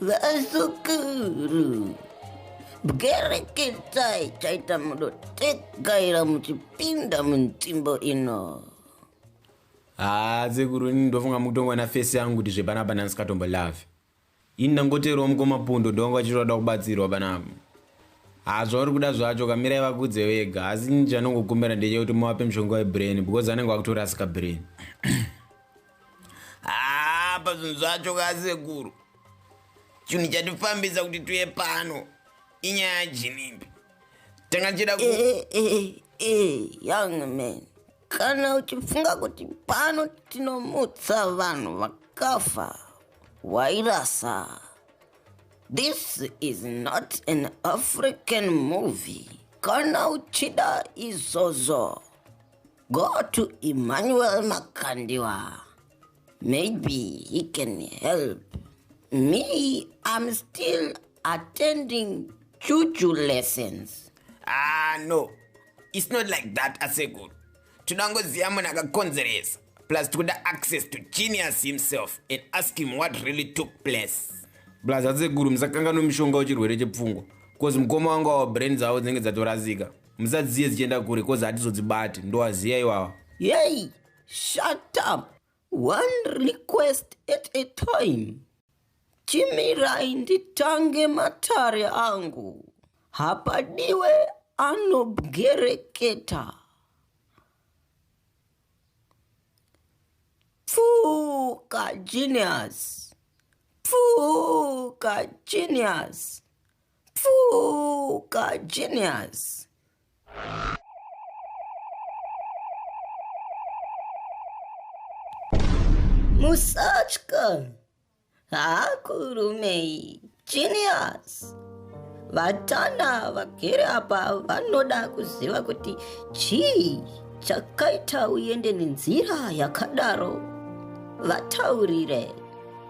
vasukuru bwereketsai chaita mudotegaira muchipinda munzvimbo ino haa ah, sekuru ini ndofunga mukutongona fesi yangu kuti zvepanapa ndandisingatombo love Ini ndangoteerwa mukoma Pundo ndovanga vachiti vada kubatsirwa panapa. Haa zvauri kuda zvacho kamirai vakudze vega asi ini chanongokumbira ndechekuti muvape mushonga webrain because anenge vakutorasika brain. Haa pazvinhu zvacho kasekuru chinhu chatifambisa kuti tuye pano inyaya jinimbi tanga tichida ku eh, eh, eh, eh, young man kana uchifunga kuti pano tinomutsa vanhu vakafa wairasa this is not an african movie kana uchida izvozvo go to emmanuel makandiwa Maybe he can help. Me, I'm still attending juju lessons. Ah, no. It's not like that, Asekuru. Tunangoziva munhu akakonzeresa. Plus tikuda access to genius himself and ask him what really took place. Plus Asekuru musakanganwe mushonga wechirwere chepfungwa. Cause mukoma wangu awa brain dzavo dzinenge dzatorasika. Musadziye dzichienda kure cause hatizodzibati. Ndowaziya iwawa. Yei, Shut up. One request at a time. Chimirai nditange matare angu. Hapadiwe anobwereketa. Pfuka genius. Pfuka genius. Pfuka genius. musatya hakurumei genius vatana vagere apa vanoda kuziva kuti chii chakaita uende nenzira yakadaro vataurire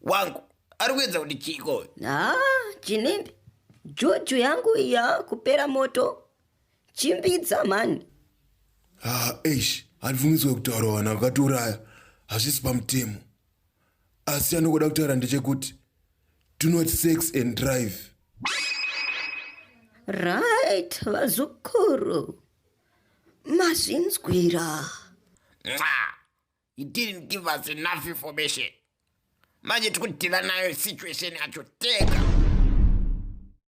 wangu ari kuedza kuti chiiko haa chinimbi juju yangu iya kupera moto chimbidza mhani haa eish handibvumidzwe kutaura vanhu vakatiuraya hazvisi pamutemo asi anokuda kutaura ndechekuti do not sex and drive right vazukuru mazvinzwira Mwah. he didn't give us enough information manje tikutiva nayo situation yacho tega